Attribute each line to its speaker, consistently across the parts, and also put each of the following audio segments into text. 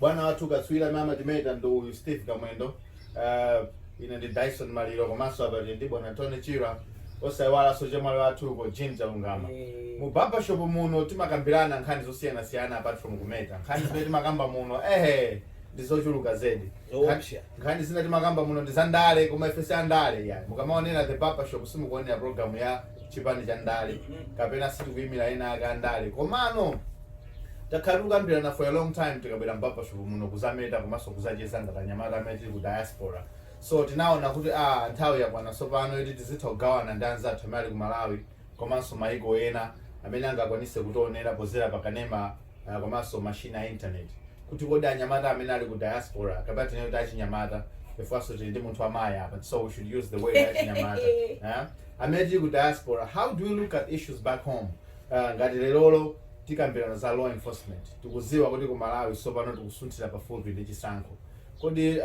Speaker 1: Bwana wathu katswiri amene amatimeta ndi uyu Steve Kamwendo, uh, ine ndi Dyson Maliro komanso apa tili ndi bwana Tony Chirwa osaiwalanso chemwali wathu uko Jean Chalungama. Mu barbershop muno timakambirana nkhani zosiyanasiyana apart from kumeta. Nkhani zimene timakamba muno ehe ndi zochuluka zedi. Zoopsa. Nkhani zina timakamba muno ndi za ndale koma ife si andale ya. Mukamaonera the barbershop simukuonera program ya chipani cha ndale kapena sitikuimira ena ake andale komano Takhala tikukambirana for a long time tikabwera m'barbershop muno kuzameta komanso kuzacheza ngati anyamata amene tili ku diaspora so tinaona kuti ah nthawi yakwana tsopano yoti tizitha kugawana ndi anzathu amene ali ku Malawi komanso maiko ena amene angakwanise kutionera pozera pa kanema ah, komanso machine a internet kuti kodi anyamata amene ali ku diaspora kapena tinene kuti achinyamata chifukwanso tili ndi munthu wamayi apa so we should use the word achinyamata eh? amene tili ku diaspora how do we look at issues back home Ah, ngati lerolo Tikambilana za law enforcement tikuziwa kuti kumalawi sopano tikusunthila pafupi ndi chisankho kodi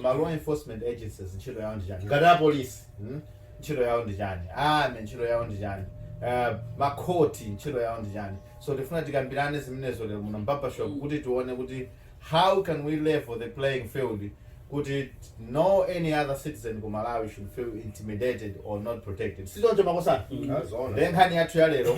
Speaker 1: ma law enforcement agencies ntchito yawo ndichani ngati a police mm? ntchito yawo ndichani army ntchito yawo ndichani uh, makhoti ntchito yawo ndichani so tifuna tikambilane zimenezo lero muno m'barbershop kuti tione kuti how can we level the playing field kuti no any other citizen ku malawi should feel intimidated or not protected sichoncho makosana mm -hmm. nkhani yathu ya lero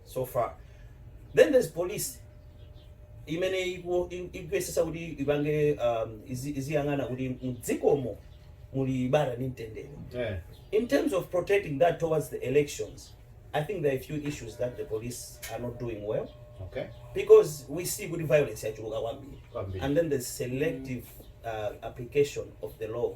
Speaker 2: so far then there's police imene iku- i- ikuyesesa kuti ipange um, izi- iziyang'ana kuti mdzikomo muli bata ndi mtendere Eh. in terms of protecting that towards the elections i think there are a few issues that the police are not doing well Okay. because
Speaker 1: we
Speaker 2: see kuti violence yachuluka kwambiri Kwambiri. and then there's selective uh, application of the law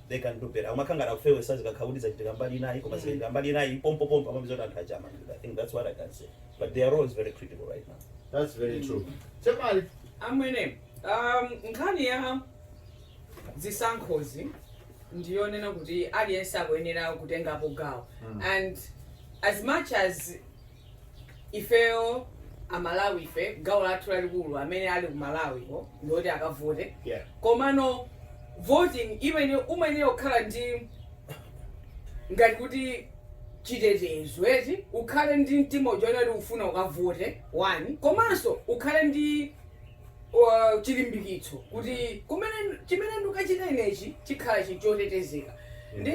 Speaker 2: they can do better akumakhala ngati akufewesa zikakhala kuti zachitika mbali inayi koma zikachitika mbali inayi pompopompo amapeza kuti anthu aja amangidwa i think that's what i can say but their role is very critical right now That's very true.
Speaker 1: Chemali,
Speaker 3: amwene um, nkhani ya zisankhozi ndiyonena kuti aliyense akuyenera kutengapo gawo and as much as ifeyo amalawi ife gawo lathu lalikulu amene ali ku malawi ko ndioti akavote Yeah. komano voting imene umayenera kukhala ndi ngati kuti chitetezo eti ukhale ndi mtima woziona kuti ufuna ukavote ndani komanso ukhale ndi uh, chilimbikitso kuti kumene chimene ndikachita inechi chikhala chinthu chotetezeka ndi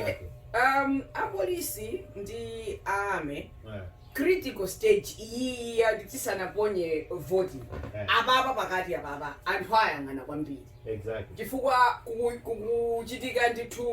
Speaker 3: um, apolisi ndi a army Eh. critical stage iyiyi yoti tisanaponye voti Eh. apapa pakati apapa anthu ayang'ana kwambiri Exactly. chifukwa
Speaker 1: kuku-
Speaker 3: kukuchitika ndithu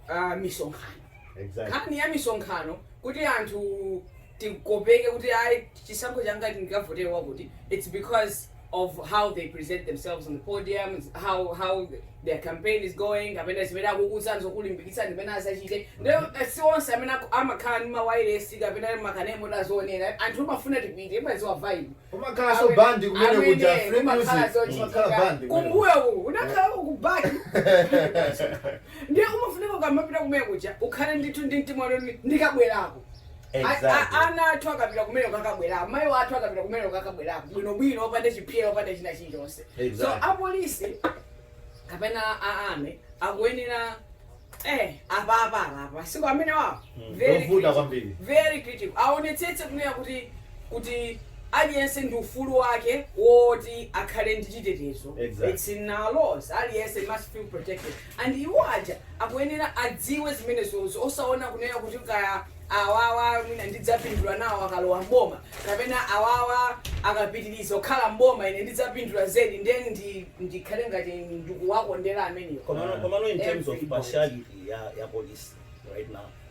Speaker 3: uh, misonkhano Exactly.
Speaker 1: nkhani ya
Speaker 3: misonkhano kuti anthu tikopeke kuti ayi chisankho changa ndikavotere wakuti its because of how they present themselves on the podium how how their campaign is going kapena zimene akukuuza nzokulimbikitsa zimene azachite nde eh, si onse amene aku- amakhala ndi mawairesi kapena makanemo tazionera, anthu umafuna tipite timadziwa vibe umakhala so
Speaker 1: bandi kumene kuja free umakhala music zochitika. umakhala bandi kumene. kumbuyo uku
Speaker 3: umakhala kukubaki ndiye umafunika ukamapita kumene kuja ukhale ndithu ndi mtima woti ndikabwerako
Speaker 2: Ana
Speaker 3: athu akapita kumene kuja akabwera, amayi wathu akapita kumene kuja akabwera bwinobwino opanda chiphyera opanda china chilichonse. So apolisi kapena a army akuyenera eh apapa apapa masiku amenewawa hmm, very critical, very critical aonetsetse kunena kuti kuti aliyense ndi ufulu wake woti akhale ndi chitetezo. Exactly. It's in our laws. Aliyense must feel protected. And iwo aja akuyenera adziwe zimenezozi osaona kunena kuti kaya awawa mwina ndidzapindula nawo akalowa m'boma kapena awawa akapitiliza kukhala m'boma ine ndidzapindula zedi nde ndi ndikhale ngati ndikuwakondera amenewo Komano, komano in terms of
Speaker 2: Everybody. partiality ya, ya police right now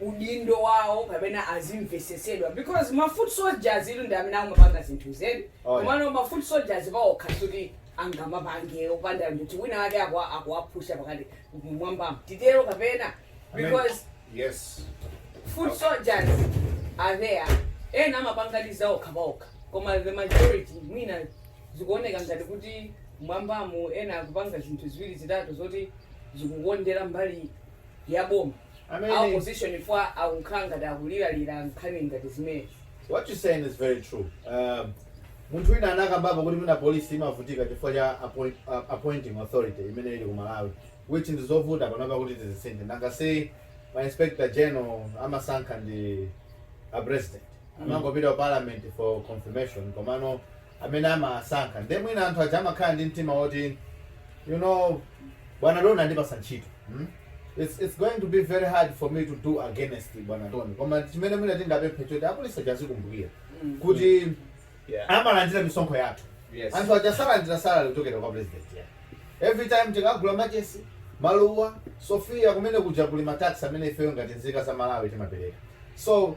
Speaker 3: udindo wawo kapena azimvesetsedwa because ma foot soldiers iwo ndi amene akumapanga zinthuzi eni Oh, yeah. komano ma foot soldiers paokha kuti angamapange opanda munthu wina wake akwa- akuwapusha pakati mwambamo titero kapena Amen. because
Speaker 4: Yes.
Speaker 3: foot soldiers are there ena amapangadi zaokha paokha koma the majority mwina zikuoneka ngati kuti mwambamo ena akupanga zinthu ziwiri zitatu zoti zikukondera mbali ya boma a opposition chifukwa akukhala ngati akuliralira nkhani ngati zimenezi What you're saying is
Speaker 1: very true. Um, munthu wina anakambapo kuti mwina polisi imavutika chifukwa cha appoint, uh, appointing authority imene ili ku Malawi which ndi zovuta panopa kuti tizisinthe nanga si ma inspector general amasankha ndi a president amangopita ku parliament for confirmation komano amene amasankha nde mwina anthu aja amakhala ndi mtima woti you know bwana Don andipatsa ntchito mm? it's, it's going to be very hard for me to do against bwana Don koma chimene mwina tingapemphe choti apolisi aja azikumbukira kuti Yeah. amalandira misonkho yathu Yes. anthu aja salandira salary kuchokera kwa president yeah. every time tikagula machesi maluwa Sofia kumene kuja kuli ma tax amene ifeyo ngati nzika za Malawi timapereka so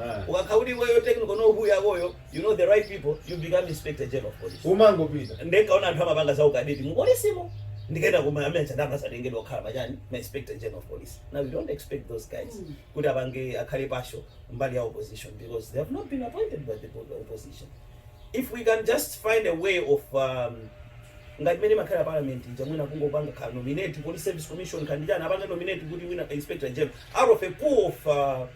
Speaker 2: Ah. ukakhala kuti iweyo technical know who yakoyo you know the right people you become inspector general of police umangopita
Speaker 1: ndinkaona anthu amapanga
Speaker 2: za ukadeti mu polisimo ndikaenda koma amene chandama satengedwa kukhala pachani ma inspector general of police now you don't expect those guys kuti apange akhale pasho mbali ya opposition because they have not been appointed by the bo- the opposition if we can just find a way of um, ngati mene imakhalira parliament ija mwina kungopanga ka nominate police service commission ka ndichani apange nominate kuti wina inspector general out of a pool of uh,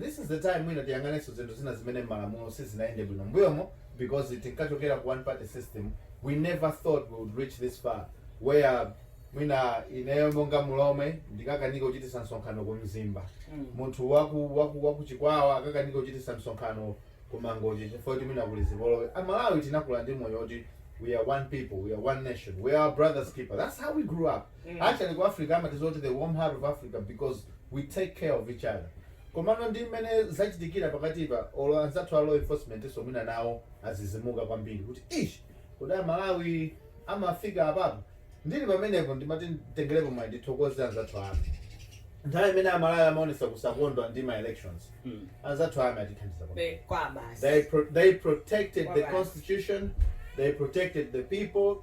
Speaker 1: This is the time mwina tiyang'anenso zinthu zina zimene mmalamulo sizinaende bwino mmbuyomo because tinkachokera ku one party system we never thought we would reach this far where mwina ineyo monga mulomwe ndikakanike kuchitisa msonkhano ku mzimba munthu waku waku wakuchikwawa akakanike kuchitisa msonkhano ku mangochi chifukwa kuti mwina kuli zipolowe amalawi tinakula ndi moyo woti we are one people we are one nation we are our brothers keeper that's how we grew up mm. actually ku africa amatidziwa kuti the warm heart of africa because we take care of each other komano ndi mmene zachitikira pakatipa olo anzathu a law enforcement so mwina nawo azizimuka kwambiri kuti ish kodi amalawi amafika apapo ndili pamenepo ndimati nditengerepo mwayi ndithokoze anzathu a army nthawi imene amalawi amaonesa kusakondwa ndi ma elections Mm. anzathu a army atithandiza kwambiri Be- kwa basi they pro- they protected the Alright. constitution they protected the people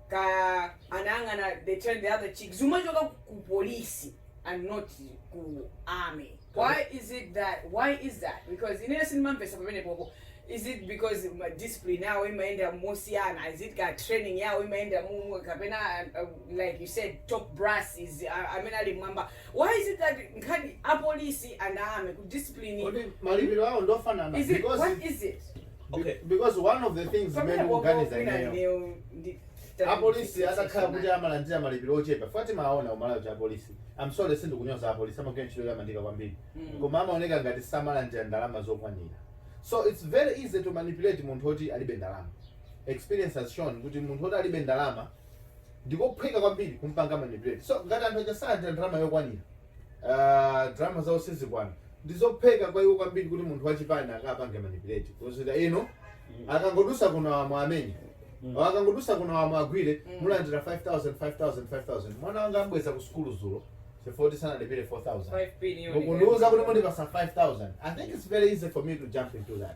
Speaker 3: ka anayang'ana they turned the other cheek zimachoka ku polisi and not ku army why is it that why is that because ineyo sindimamvesa pamenepopo is it because ma discipline yawo imayenda mosiyana is it ka training yawo imayenda mumu kapena uh, uh, like you said top brass is uh, amene ali m'mwamba why is it that nkhani ya polisi and army ku discipline Kodi malipiro awo ndofanana is it because what is it okay
Speaker 2: because one of
Speaker 1: the things zimene ndimaganiza ineyo apolisi atakhala kuti amalandira malipiro ochepa chifukwa timaona umoyo wa apolisi i'm sorry sindikunyoza apolisi amagwira ntchito yotamandika kwambiri mm. koma amaoneka ngati samalandira ndalama zokwanira so it's very easy to manipulate munthu oti alibe ndalama experience has shown kuti munthu oti alibe ndalama ndikophweka kwambiri kumpanga manipulate so ngati anthu aja salandira ndalama yokwanira Aaa ndalama zawo sizikwana ndizophweka kwa iwo kwambiri kuti munthu wachipani akapange manipulate kuti inu akangodusa kuno awa muwamenye or akangodusa kuno awa muwagwire mulandira 5000 5000 5000 mwana wanga ambweza ku sukulu dzulo chifukwa kuti sanalipire 4000 mukundiuza kuti mundipasa 5000 i think its very easy for me to jump into that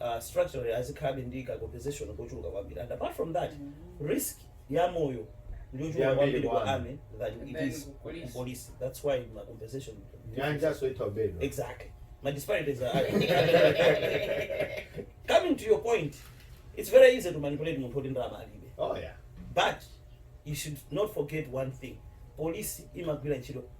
Speaker 2: uh, structurally azikhabe ndi ka compensation kochuluka kwambiri and apart from that risk ya moyo ndiyochuluka Yambiri kwambiri ku kwambiri. army than it Than is ku police. ku police that's why ma compensation nyanja soitha ubedwa exactly ma disparities are high. coming to your point it's very easy to manipulate munthu oti ndalama alibe oh
Speaker 1: yeah but
Speaker 2: you should not forget one thing polisi imagwira ntchito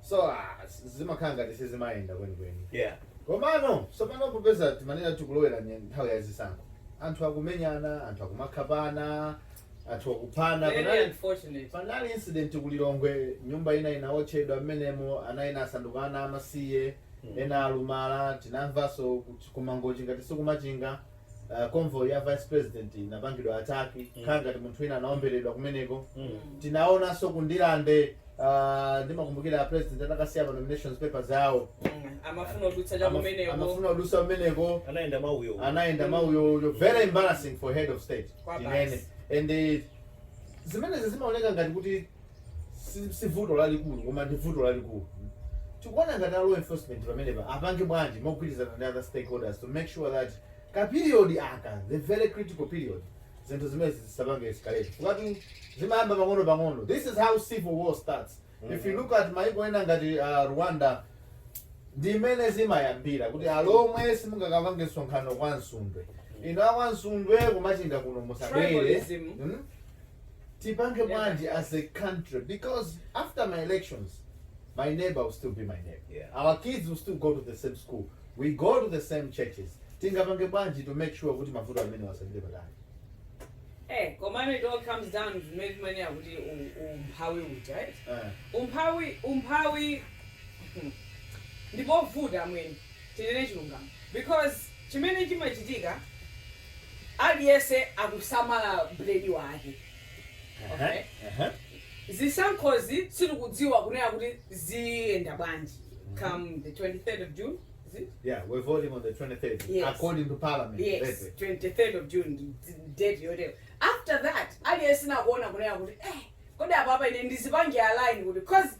Speaker 1: so ah, s- zimakhala ngati sizimayenda kwenikweni yeah komano
Speaker 2: tsopano
Speaker 1: popeza timanena tikulowera nye- nthawi ya zisankho anthu akumenyana anthu akumakhapana anthu akuphana Very panali- unfortunate. panali incident kulilongwe nyumba ina inaotchedwa mmenemo ana ena asanduka ana amasiye Mm. ena alumala tinamvanso kuti kumangochi ngati sikumachinga uh, convoy ya vice president inapangidwa attack mm. kukhala ngati munthu wina anaomberedwa kumeneko mm. tinaonanso ku Ndirande uh, ndimakumbukira president atakasiya pa nominations papers awo amafuna kudutsa cha kumeneko amafuna kudutsa kumeneko anayenda mauyo anayenda mauyo yo very embarrassing for head of state Kaya tinene and uh, zimenezi zimaoneka ngati kuti si vuto lalikulu koma ndi vuto lalikulu tikuona ngati a law enforcement pamenepa apange bwanji mogwirizana ndi other stakeholders to make sure that ka period aka the very critical period zinthu zimenezi zisapange escalate chifukwa zimayamba pang'ono pang'ono this is how civil war starts mm -hmm. if you look at maiko ena ngati uh, rwanda ndi mmene zimayambira kuti alomwe simungakapange msonkhano kwa Msundwe inu a kwa Msundwe ku Machinga kuno musabwere hmm? tipange bwanji as a country because after my elections my neighbor will still be my neighbor Yeah. our kids will
Speaker 2: still go
Speaker 1: to the same school we go to the same churches tingapange bwanji to make sure kuti mavuto amenewa asapite patali Eh, komano it all comes down
Speaker 3: to mmene timanena kuti u- umphawi uja eh? Eh, umphawi umphawi ndipovuta amwene tinene chilungamo because Chimene chimachitika aliyense akusamala bread wake okay zisankhozi sitikudziwa kunena kuti ziyenda bwanji come the 23rd of June is it yeah we're
Speaker 1: voting on the 23rd yes according
Speaker 3: to
Speaker 1: parliament yes
Speaker 3: 23rd of June date yovotera after that aliyense akuona kunena kuti eh kodi apapa ine ndizipange align kuti cause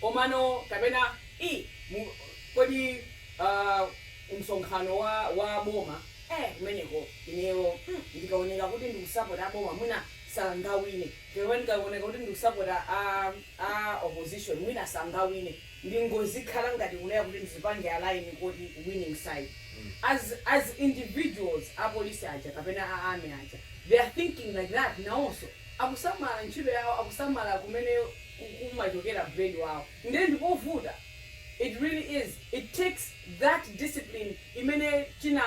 Speaker 3: Komano, kapena i, mu, kodi, uh, msonkhano wa, wa aboma, eh, kumeneko, ineyo, mm, ndikawoneka kuti ndikusapota aboma, mwina sangawine. Kapena ndikawoneka kuti ndikusapota a, a opposition, mwina sangawine. Ndingozikhala ngati kunena kuti ndizipange align kuti winning side. As, as individuals, a police aja, kapena a army aja, they are thinking like that, nawonso. Akusamala ntchito yawo, akusamala kumene. ku, kumachokera bread wawo ndiye ndipovuta it really is it takes that discipline imene china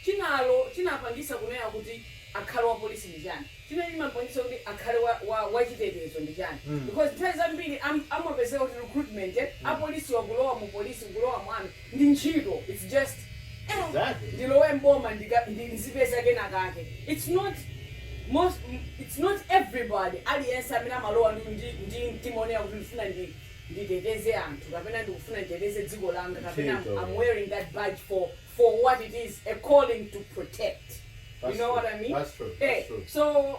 Speaker 3: chinalo chinapangitsa kunena kuti akhale wa police ndi chani chimene chinapangitsa kuti akhale wa wa wachitetezo ndi chani because nthawi zambiri am, amapezeka kuti recruitment ya polisiwa kulowa mu police kulowa mu army ndi ntchito its just eh Exactly. ndilowe m'boma ndika ndizipeza kena kake its not most its not everybody aliyense amene amalowa ndi ndi ndi mtima wonena kuti ndifuna ndi nditeteze anthu kapena ndikufuna nditeteze dziko langa kapena Ntchito. I'm wearing that badge for for what it is a calling to protect you That's know true. what I mean That's true. That's eh true. so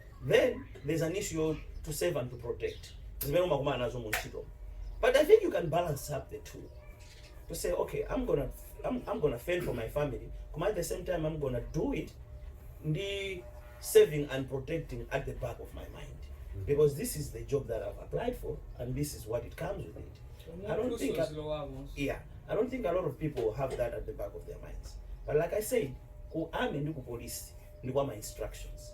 Speaker 1: then
Speaker 2: there's an issue yo to save and to protect zimene umakumana nazo mu ntchito but i think you can balance up the two to say okay i'm gonna i'm, I'm gonna fend for my family koma at the same time i'm gonna do it ndi saving and protecting at the back of my mind because this is the job that i've applied for and this is what it comes with it i don't think I, yeah i don't think a lot of people have that at the back of their minds but like i said ku army ndi ku police ndi kwa my instructions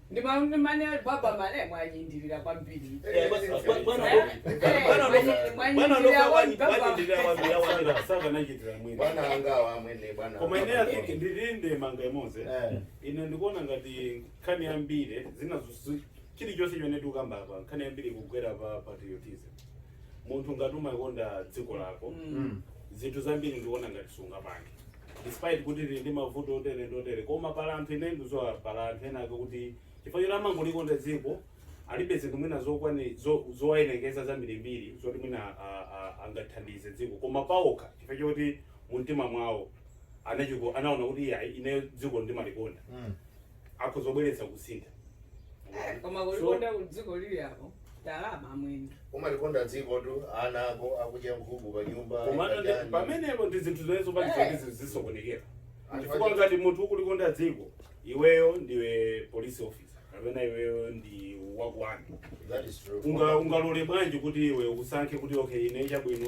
Speaker 3: Ndi ma ndi mani ali baba male mwanyindirira kwambiri. Eh, bwa- bwa- bwana Eh, Loka- eh, bwana Loka- mwanyi- bwana mwanyindirira Loka wanyi- kwambiri.
Speaker 4: wanyindirira kwambiri, awamira. Saka- sakanachitira mwina bwana angawa amwene bwana koma ine ati
Speaker 5: ndili ndi ndemanga imodzi Eh. ine ndikuona ngati nkhani yambiri zinazo chilichonse chimene tikukamba apa nkhani yambiri ikugwera pa patriotism munthu ngati umalikonda dziko lako Mm. zinthu zambiri ndikuona ngati sungapange despite kuti tili ndi mavuto otere ndi otere koma pali anthu ine ndidziwa pali anthu ena ake kuti chifukwa choti amangolikonda dziko alibe zinthu mwina zokwani zo- zowayenereza zambirimbiri zoti mwina a- a- angathandize dziko koma paokha chifukwa choti mu mtima mwawo anachiko anaona kuti iyayi ineyo dziko ndimalikonda Mm. akhoza kubweretsa kusintha
Speaker 3: koma So- kulikonda dziko lili apo ndalama amwene umalikonda dziko
Speaker 4: tu ana ako akudya nkhuku pa nyumba komano ndi- akadya- pamenepo
Speaker 5: ndi zinthu zimenezo zopangitsa kuti zizisokonekera Anthu chifukwa aja- ngati munthu ukulikonda dziko iweyo ndiwe police officer kapena iweyo ndi wakuwani That is true.
Speaker 4: Unga- ungalole bwanji
Speaker 5: kuti iwe usankhe kuti okay ine chabwino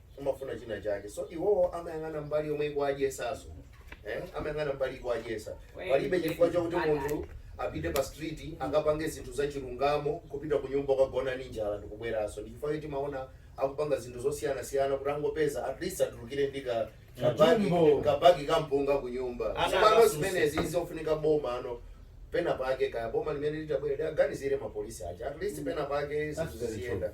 Speaker 4: umafuna china chake so iwowo amayang'ana mbali yomwe ikuwadyesaso eh? amayang'ana mbali ikuwadyesa palibe chifukwa chakuti munthu apite pa street akapange zinthu za chilungamo kupita ku nyumba kukagona ndi njala ndikubweraso ndi chifukwa choti mumaona akupanga zinthu zosiyanasiyana kuti angopeza at least atulukire ndi ka kabagi Katumbo. kabagi kampunga ku nyumba Ana zimano akafunsa. zimenezi zofunika boma ano pena pake kaya boma limene litabwere liaganizire mapolisi aja at least pena pake zinthu ziziyenda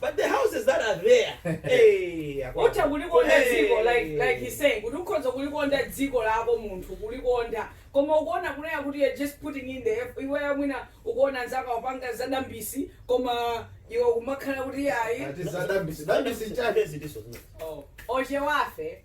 Speaker 2: But the houses that are there, hey, akwa- utha kulikondadi Hey.
Speaker 3: dziko like like he's saying kuti ukhoza kulikonda dziko lako munthu kulikonda koma ukuona kunena kuti you're just putting in the effort iweyo mwina ukuona anzako akupanga zadambisi koma iwe kumakhala kuti ayi Ati zadambisi,
Speaker 1: dambisi chake. Ziliso zimene. oh,
Speaker 3: ochewafe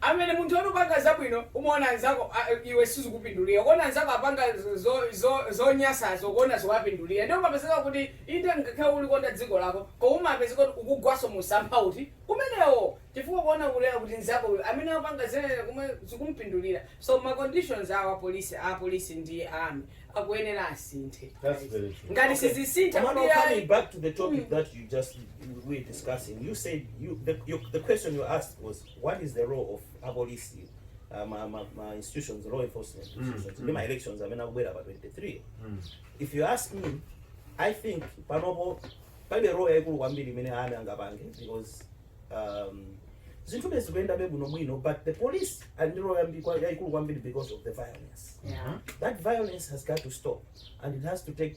Speaker 4: Amene munthu
Speaker 3: oti ukupanga zabwino umaona anzako aa iwe sizikupindulira ukuona anzako apanga zo zo zonyasazo ukuona zikuwapindulira ndiye umapezeka kuti inde ngakhale ulikonda dziko lako koma umapezeka kuti ukugwaso mumsampha woti umenewo chifukwa ukuona kunena kuti nzako uyu amene akupanga zimenezi komwe zikumpindulira so ma conditions a apolisi apolisi ndi a army akuyenera asinthe That's very true. ngati
Speaker 1: Okay. sizisintha Komano,
Speaker 3: kuti coming ayi back to
Speaker 2: the topic that you just we were discussing, you said you the, your, the question you asked was what is the role of apolisi uh, ma, ma, ma institutions law enforcement mm, institutions mm. ndi ma elections amene akubwera pa 23 mm. if you ask me i think panopo palibe role yaikulu kwambiri imene army ingapange because um, zinthu bezi kuyendabe bwino bwino but the police ali ndi role yambi- kwa- yaikulu kwambiri because of the violence Yeah. that
Speaker 3: violence has
Speaker 2: got to stop and it has to take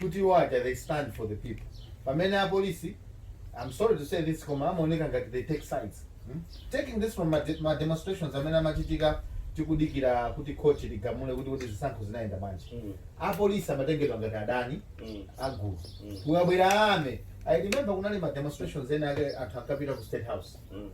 Speaker 1: kuti iwo aja they stand for the people pamene apolisi I'm sorry to say this koma amaoneka ngati they take sides hmm? taking this from ma, de ma demonstrations amene amachitika tikudikira kuti khoti ligamule kuti kuti zisankho zinayenda bwanji mm. apolisi amatengedwa ngati adani mm. a gulu mm. kukabwera army i remember kunali ma demonstrations ena ake anthu ankapita ku state house mm.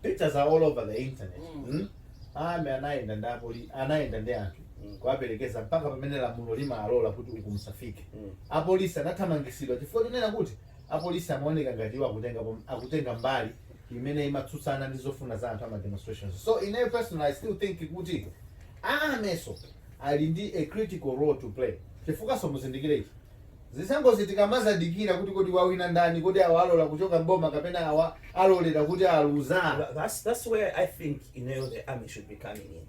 Speaker 1: pictures are all over the internet mm. Mm? Army anayenda ndi apoli anayenda ndi anthu mm. kuwaperekeza mpaka pamene lamulo limalola kuti uku musafike mm. apolisi anathamangitsidwa chifukwa chonena kuti apolisi amaoneka ngati iwo akutenga akutenga mbali imene imatsutsana ndi zofuna za anthu a ma demonstrations so in a personal i still think kuti armynso ali ndi a critical role to play chifukwanso muzindikire ichi Zisankhozi tikamazadikira kuti kodi wawina ndani, kodi awa alola kuchoka m'boma kapena awa alolera kuti aluza. Tha thats thats where i
Speaker 2: think ineyo the army should be coming in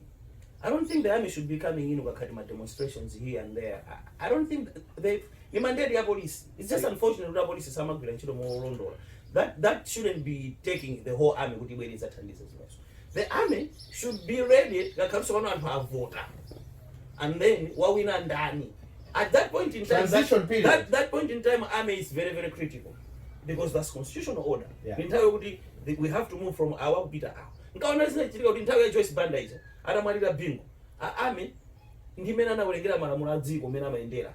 Speaker 2: i dont think the army should be coming in kukakhala ma demonstrations here and there i dont think they ni mandate ya police its just unfortunate kuti apolice samagwira ntchito molondola that that shouldn't be taking the whole army kuti ibwere idzathandize zimenezizo the army should be ready ngakhalinso pano anthu avota and then wawina ndani at that point in time Transition that, period. that, that point in time army is very very critical because that's constitutional order Yeah. ni nthawi yokuti
Speaker 1: the-
Speaker 2: we have to move from awa kupita awa nkaona zinachitika kuti nthawi ya joyce banda ija atamwalira bingo a army ndi amene anawerengera malamulo a dziko amene amayendera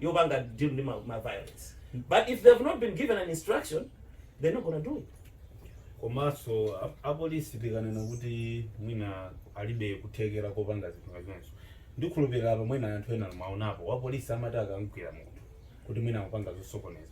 Speaker 2: yopanga deal ndi ma, ma violence but if they have not been given an instruction they're not gonna do it komanso
Speaker 5: a- apolisi tikanena kuti mwina alibe kuthekera kopanga zinthu ngati izonso ndikhulupirira apa mwina anthu ena mwaonapo wapolisi amati akamgwira munthu kuti mwina akupanga zosokoneza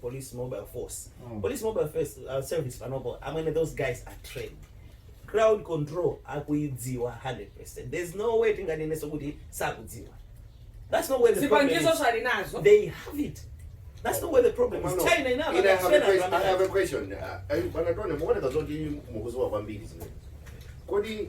Speaker 2: police mobile force mm. police mobile force, uh, service panopo amene those guys are trained crowd control akuidziwa 100% there's no way tinganeneso kuti sakudziwa that's not where the problem is. they have it That's not where the problem is. China ina I have a question. I have a question. Uh,
Speaker 4: uh, Bwana Tone, muone kazoti mukuziwa kwambiri zimene. Kodi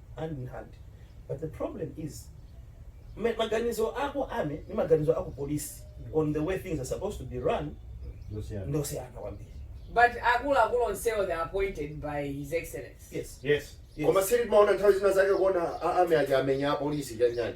Speaker 2: hand in hand but the problem is ma- maganizo a ku army ndi maganizo a ku polisi on the way things are supposed to be run Zosiyana. ndi osiyana kwambiri But
Speaker 3: akuluakulu onsewo they are appointed by His Excellency. yes yes Yes. koma
Speaker 2: sili timaona
Speaker 4: nthawi zina zake kuona a- army aja amenya apolisi chanjani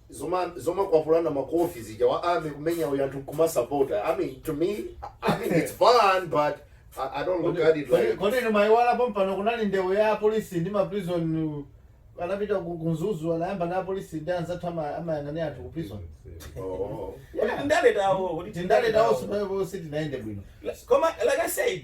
Speaker 4: zoma zomakwapulana makofi zija wa army kumenya uyu anthu nkumasapota i mean to me i mean it's fun but i, I don't look at it like kodi inu mayiwala pompano
Speaker 1: kunali ndewu ya apolisi ndi maprison anapita ku ku Mzuzu anayambana apolisi ndi anzathu ama- amayang'anira anthu ku prison
Speaker 4: oh. Kodi ndindale zawo,
Speaker 2: kodi ndindale zawo sipaepo sizinayende
Speaker 1: bwino koma like i
Speaker 2: said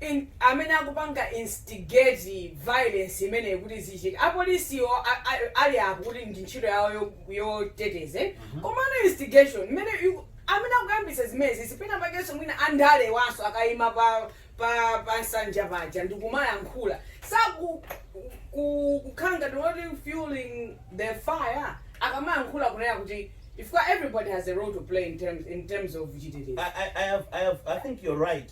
Speaker 3: in amene akupanga instigate violence imeneyi kuti zichitike apolisiwo ali apo kuti ndi ntchito yawo yoteteza komano instigation imene amene akuyambitsa zimenezi penapakenso mwina andalewanso akayima pa pa pa nsanja paja ndikumayankhula sakukhala ngati woti fueling the fire akamayankhula kunena kuti chifukwa everybody has a role to play in terms, in terms of chitetezo I, I, I, have, I, have, I
Speaker 2: think you're right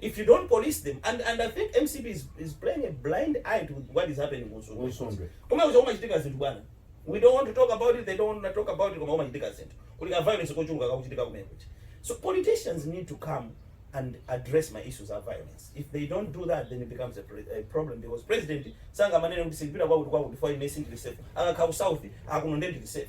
Speaker 2: if you
Speaker 3: don't
Speaker 2: police them and and i think mcp is is playing a blind eye to what is happening ku Nsundwe Nsundwe. koma kuja kumachitika zinthu bwana we don't want to talk about it they don't want to talk about it koma kumachitika zinthu kuli ka violence kochuluka kakuchitika kumene kuja so politicians need to come and address ma issues of violence if they don't do that then it becomes a, pre a problem because president sangamanene kuti sindipita kwakuti kwakuti for ine sindili safe akakhala ku south akuno ndendili safe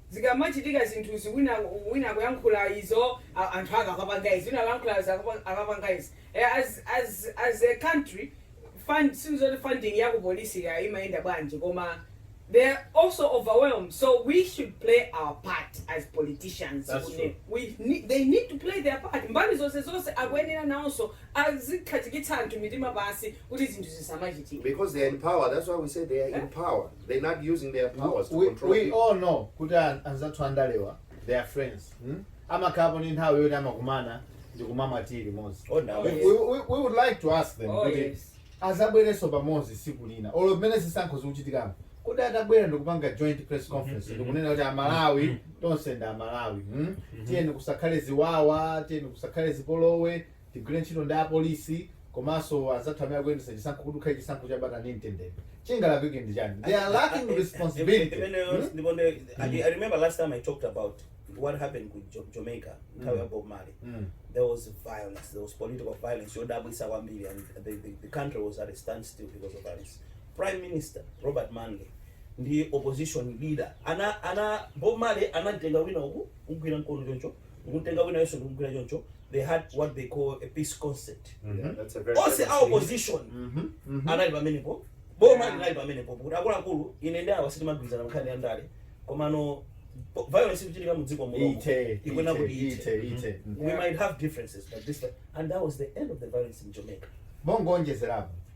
Speaker 3: zikamachitika zinthuzi wina wina akuyankhula izo a anthu ake akapanga izi wina akuyankhula izi akapanga izi e as as as a country fund si zoti funding ya ku polisi kaya imayenda bwanji koma they are also overwhelmed so we should play our part as politicians That's kune true. we need, they need to play their part mbali zonse zonse akuyenera nawonso azikhazikitsa anthu mitima pansi kuti zinthu zisamachitike because they are in power
Speaker 4: that's why we say they are in power They not using their powers to we, control we people. all know
Speaker 1: kuti an- anzathu andalewa they are friends hmm? amakhalapo ndi nthawi yoti amakumana ndi kumamwa tii limodzi Oh, no. we, we, we, we would like to ask them Oh, kuti yes. azabwerenso pamodzi siku lina olo mmene zisankho zikuchitikamu kuti atabwera ndikupanga joint press conference ndikunena kuti amalawi tonse ndi amalawi hmm? tiyeni kusakhale ziwawa tiyeni kusakhale zipolowe Tigwire ntchito ndi apolisi komanso anzathu amene akuyendetsa chisankho kuti kukhale chisankho cha bata ndi mtendere. Chingalakwike ndi chani? They are lacking responsibility. Imeneyo Hmm?
Speaker 2: ndiye nde I, I remember last time I talked about what happened ku Jo- Jamaica nthawi ya Bob Marley. Mm. There was violence, there was political violence yodabwisa kwambiri and the, the, the country was at a standstill because of violence. Prime Minister Robert Manley ndi opposition leader ana ana Bob Marley anamtenga wina uku kumgwira mkono choncho ndikumutenga winayonso ndikumugwira choncho they had what they call a peace concert mm
Speaker 4: -hmm. onse a
Speaker 2: opposition mm -hmm. mm -hmm. anali pamenepo boma yeah. linali pamenepo kuti akuluakulu ine ndi awa sitimagwirizana nkhani ya ndale komano violence ikuchitika mu dziko muno ikuyenera kuti ithe mm-hmm. we might have differences but this and that was the end of the violence in Jamaica mongonjezerapo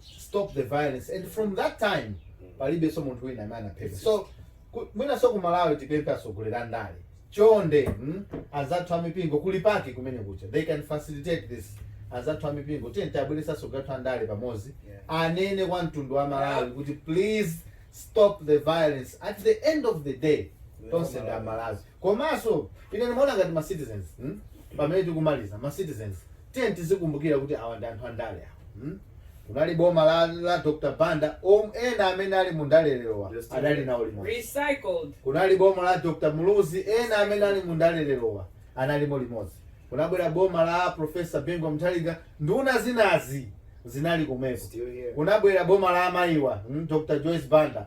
Speaker 1: stop the violence and from that time palibenso munthu wina amene anaphedwa so ku- mwinanso ku malawi tipemphe atsogoleri a ndale chonde mm, azathu a mipingo kuli PAC kumeneku CHA they can facilitate this anzathu a mipingo tiyeni tiwabweretse atsogoleri athu a ndale pamodzi Yeah. anene kwa mtundu wa malawi kuti please stop the violence at the end of the day tonse ndi amalawi komanso ine ndimaona ngati ma citizens mm, Pamene tikumaliza, ma citizens tiyeni tizikumbukira kuti awa ndi anthu andale awa mm kunali boma la la Dr Banda om ena amene ali mu ndale lerowa adali nawo limodzi Recycled. kunali boma la Dr Muluzi ena amene
Speaker 3: ali
Speaker 1: mu ndale lerowa analimo limodzi kunabwera boma la Prof Bingu wa Mutharika nduna zinazi zinali komweko Still here. kunabwera boma la amayiwa mm Dr Joyce Banda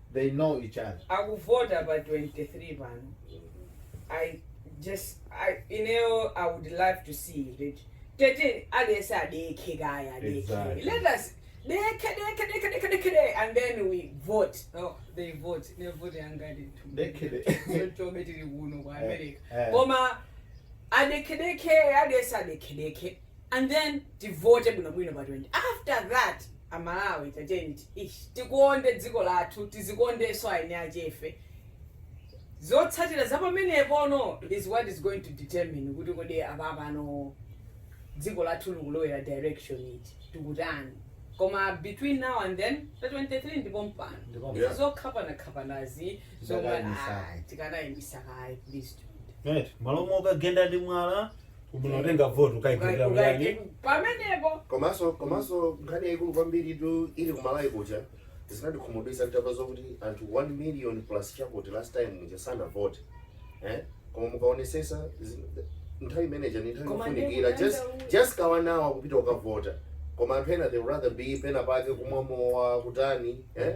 Speaker 1: They know each other. akuvota pa 23
Speaker 3: pano i just I, ineyo i would love to see that tete alese adekhe kaya adekhe Exactly. let us dekhe dekhe dekhe dekhe dekhe de- and then we vote oh, they vote nevote yangati Dekhe de- tobe tili kuno ku america Eh, eh. koma adekhe dekhe alese adekhe dekhe and then tivote bwinobwino pa 20 after that amalawi tatiyeni ti- ish, tikonde dziko lathu tizikondenso eni akefe zotsatira za pamenepono is what is going to determine kuti kodi apapano dziko lathu likulowera direction iti tikutani koma between now and then pa 23 ndipo mpano Ndipo Yeah. zokhapanakhapanazi zomwe Tikanayimbisa. ah, tikanayimbisa kaye please do it. Right. m'malo
Speaker 1: mokagenda ndi mwala Kungotenga vote ukaigwira muyani.
Speaker 3: Pamenepo. Komanso
Speaker 4: komanso nkhani yaikulu kwambiri tu ili kumalawi kuja zinandikhumudwitsa kuti apa zokuti anthu 1 million plus chakuti last time muja sanavote eh koma mukaonesesa zi- nthawi imeneja ni nthawi Koma yofunikira ndikuti just anda- just ka one hour kupita ukavota koma anthu ena they would rather be pena pake kumwa mowa kutani eh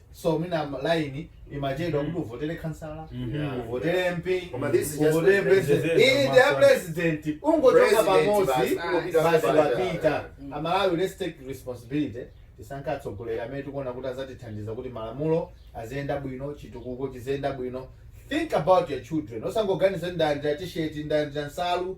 Speaker 1: so mwina laini imachedwa kuti uvotere khansala Mhm. uvotere mp Koma this is just uvotere president. president iyi ndi ya president ungochonga President pamodzi basi, kungopita basi pamodzi. wapita Mm. amalawi let's take responsibility tisankha atsogoleri amene tikuona kuti azatithandiza kuti malamulo aziyenda bwino chitukuko chiziyenda bwino think about your children osangoganiza kuti ndalandira tisheti ndalandira nsalu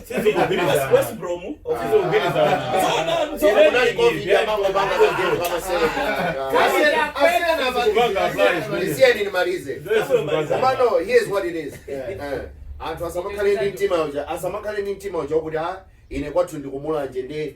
Speaker 4: anthu asamakhale ndi mtima uja asamakhale ndi mtima uja wakuti a ine kwathu ndikumulanje ndi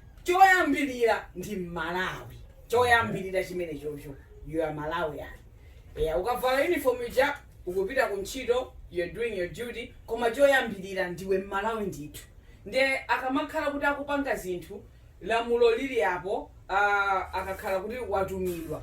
Speaker 3: choyambilira ndi mmalawi choyambilira chimenechocho you are malawian eya ukavala uniform ija ukupita ku ntchito you're doing your duty koma choyambilira ndiwe mmalawi ndithu nde akamakhala kuti akupanga zinthu lamulo lili apo uh, akakhala kuti watumidwa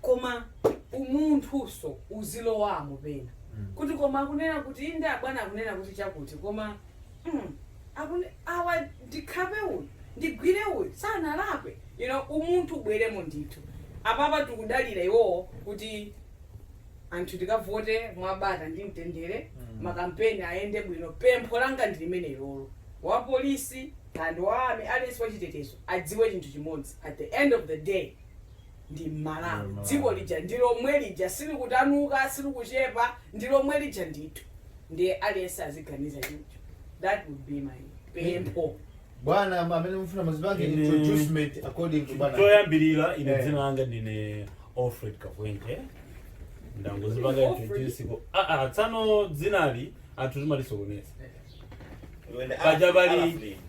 Speaker 3: koma umunthuso uzilowamo pena kuti koma akunena kuti inde abwana akunena kuti chakuti koma mm, akuti awa ndikhape uyu ndigwire uyu sanalakwe you know umunthu ubweremo ndithu apapa tikudalira iwowo kuti anthu tikavote mwabata ndi mtendere Mm. makampeni ayende bwino pempho langa ndi limene ilolo wapolisi and wa army aliyense wachitetezo adziwe chinthu chimodzi at the end of the day ndi mmalawi dziko lija ndi lomwe lija silikutanuka silikuchepa ndi lomwe lija ndithu nde aliyense aziganiza choncho that would be my pempho bwana am-
Speaker 1: amene mufuna muzipange Ine- introducement according to bwana choyambirira ine Eh.
Speaker 5: dzina langa ndine alfred kakwente ndangozipanga Alfred? introduce ko ah ah tsano dzinali anthu timalisokoneza paja pali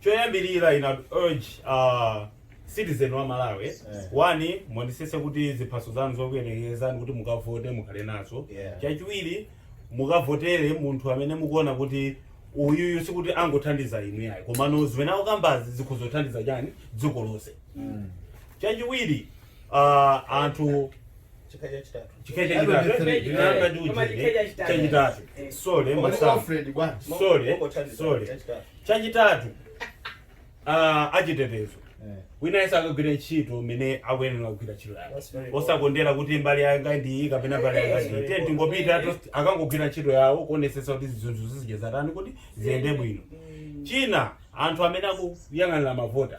Speaker 5: choyambilira ine I'd urge a citizen wa Malawi one muonesese kuti ziphaso zanu zokuyenerezani kuti mukavote mukhale nazo Yeah. chachiwiri mukavotere munthu amene mukuona kuti uyuyu sikuti angothandiza inu yayi komano zimene akukambazi zikuzathandiza chani dziko lonse chachiwiri ah, anthu chikha chachitatu chikhacha That would be chitatu three. ndinati ndi Koma ujeni chikhacha chitatu. chachitatu sorry Koma masamba Alfred bwana. sorry Mungothandiza, sorry chachitatu. chachitatu ah, achitetezo Eh. wina yese akagwire ntchito mmene akuyenera kugwira ntchito yake That's very good. osakondera kuti mbali yanga ndi iyi kapena mbali yanga ndi iyi. Tiye tingopita to- akangogwira ntchito yawo kuonesetsa kuti zinthu zizija zatani kuti ziyende bwino china anthu amene akuyang'anira mavota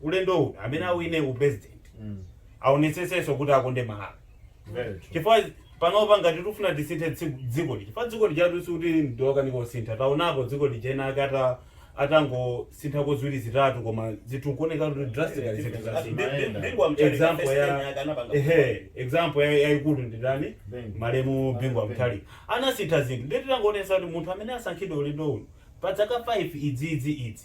Speaker 5: ulendo uno amene awine u president aonetsetsenso kuti akonde malawi chifukwa panopa ngati tikufuna tisinthe tsiku- dziko lija chifukwa dziko lija si kuti ndilokanika kusintha taonapo dziko lija enaake ata atangosintha ko ziwiri zitatu koma zinthu kuoneka kuti drastically zinthu zasintha example ya ehe example ya- yayikulu ndi ndani malemu bingu wa mutharika anasintha zinthu ndiye titangoonesa kuti munthu amene asankhidwe ulendo uno pa dzaka 5 idziidzi idzi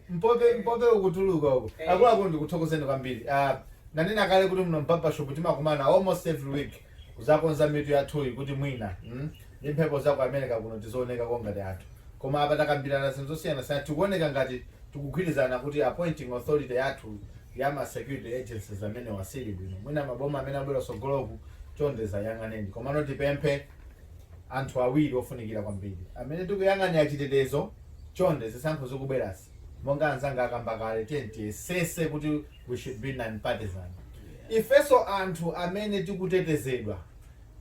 Speaker 3: Mpope
Speaker 1: mpope ukutuluka uko. Akuluakulu ndikuthokozeni kwambiri. Ah, ndanena kale kuti muno m'barbershop timakumana almost every week kuzakonza mitu yathuyi kuti mwina mm, ndi mphepo za ku America kuno tizionekako ngati anthu. Koma apa takambirana zinthu zosiyanasiyana tikuoneka ngati tikugwirizana kuti appointing authority yathu ya ma security agencies amenewa sili bwino. Mwina maboma amene abwera kusogoloku chonde zayang'aneni. Komano tipemphe anthu awiri ofunikira kwambiri amene tikuyang'anira chitetezo chonde zisankho zikubwerazi monga anzanga akamba kale tiyeni tiyesese kuti we should be non-partisan ifeso anthu amene tikutetezedwa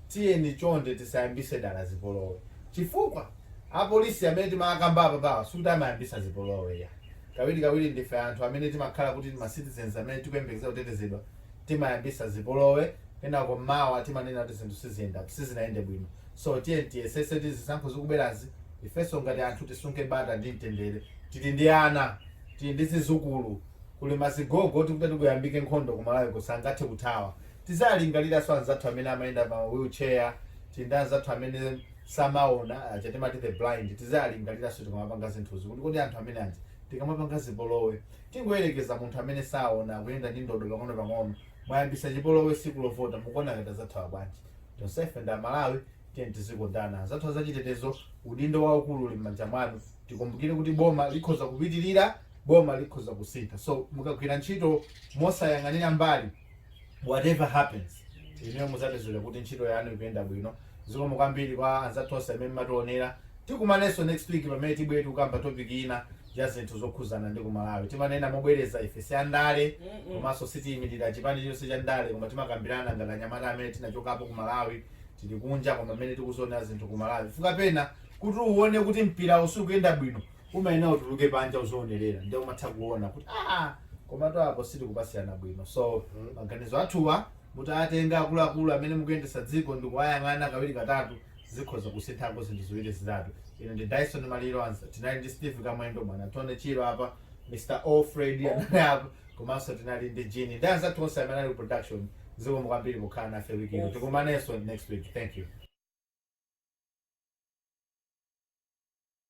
Speaker 1: tiyeni chonde tisayambise dala zipolowe chifukwa apolisi amene timakamba apawa sikuti amayambisa zipolowe ya kawiri kawiri ndife anthu amene timakhala kuti ma citizens amene tikuyembekeza kutetezedwa timayambisa zipolowe kenako mawa timanena kuti zinthu siziyenda sizinayende bwino so tiyeni tiyesese kuti zisankho zikubwerazi ifeso ngati anthu tisunge bata ndi mtendere tili ndi ana tili ndi zizukulu kuli mazigogo oti kutayambika nkhondo kumalawi kuno sangathe kuthawa tizalingaliraso anzathu amene amayenda pa wheelchair tili ndi anzathu amene samaona aja timati the blind tizalingaliraso tikamapanga zinthuzi kuti kodi anthu amene aja tikamapanga zipolowe Tingoyerekeza munthu amene saona akuyenda ndi ndodo pang'onopang'ono. Mwayambisa chipolowe siku lovota mukuona ngati azathawa bwanji? Tonsefe ndi amalawi tiyeni tizikondana. Anzathu azachitetezo udindo waukulu uli mmanja mwanu. Tikumbukire kuti boma likhoza kupitilira, boma likhoza kusintha so mukagwira ntchito mosayang'anira mbali, whatever happens inuyo muzapezeka kuti ntchito yanu ikuyenda bwino zikomo kwambiri kwa anzathu onse amene mmationera tikumanenso next week pamene tibwere tikukamba topic ina ya zinthu zokhuzana ndi kumalawi timanena mobwereza ife si andale Mm-mm. komanso sitiyimirira chipani chonse cha ndale koma timakambirana ngati anyamata amene tinachokapo ku malawi tili kunja koma amene tikuzionerera zinthu ku malawi chifukwa pena kuti uone kuti mpira usukuyenda bwino umayenera utuluke panja uzionerera nde umatha kuona kuti aa komatu apo sitikupasirana bwino so maganizo athuwa mutayatenga akuluakulu amene mukuyendesa dziko ndikuwayang'ana kawiri katatu zikhoza kusinthako zinthu ziwiri zitatu ine ndi dyson maliro ansa tinali ndi steve kamwendo bwana tony chirwa apa mr alfred anali apa komanso tinali ndi jini ndi anzathu onse amene ali ku production zikomo kwambiri kukhala nafe wiki ino tikumanenso next week thank you